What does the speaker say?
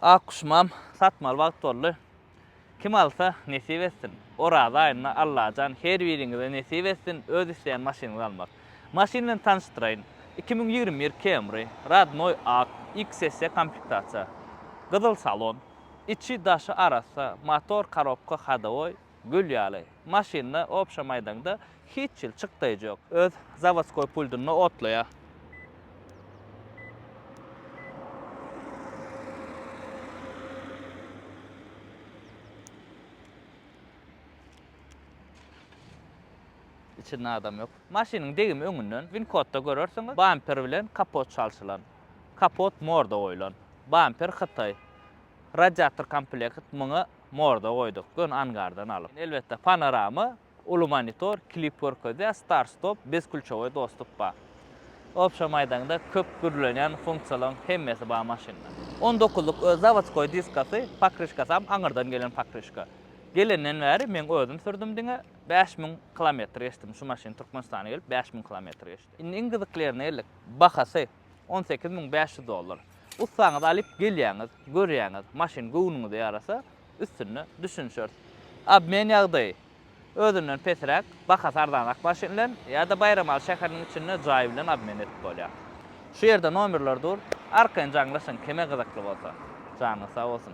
Ak guşumam satmaly wagt boldy. Kim alsa, nesip etsin. Oraza aýynda Allajan her biriňize nesip etsin öz isleýän maşynyňyzy almak. Maşyn bilen tanyşdyraýyn. Iki müň ýigrimi bir Camry, rodnoý ak, XSE komplektasiýa. Gyzyl salon. Içi-daşy arassa, motor, korobka, hodowoý, Gül ýaly. Maşynda, obşa maýdaňda hiç hil çykdaýjy ýok. Öz zawodskoý pultunda otlaýar. Içinde adam ýok. Maşynyň degimi öňünden winkotda görersiňiz. Bamper bilen kapot çalşylan. Kapot morda goýlan. Bamper hytaý. Radiator komplekt muňa morda goýduk, göni angardan alyp. Elbetde panorama, uly monitor, klip görkezýär, start stop, biz külçewoý dostluk bar. Obşa maýdaňda köp gürlenýän funksiýalaryň hemmesi bar maşynda. On dokuzlyk öz zawodskoý diskasy, pokryşkasam aňyrdan gelen pokryşka. Gelenden bäri meň özüm sürdüm diňe, bäş müň kilometr geçdim, şu maşyn Türkmenistana gelip bäş müň kilometr geçdi. Indi iň gyzyklerine geldik, bahasy. On sekiz müň bäş ýüz dollar. Ussaňyzy alyp gelýäňiz, görýäňiz, maşyn göwnüňize ýarasa, üstünde düşünişeris. Obmen ýagdaýy. Özünden pesräk, bahasy arzanrak maşyn bilen ýa-da Baýramaly şäheriniň içinde jaý bilen obmen edip bolýar. Şu ýerde nomerler dur, arkaýyn jaňlaşyň kime gyzykly bolsa. Janyňyz sag bolsun.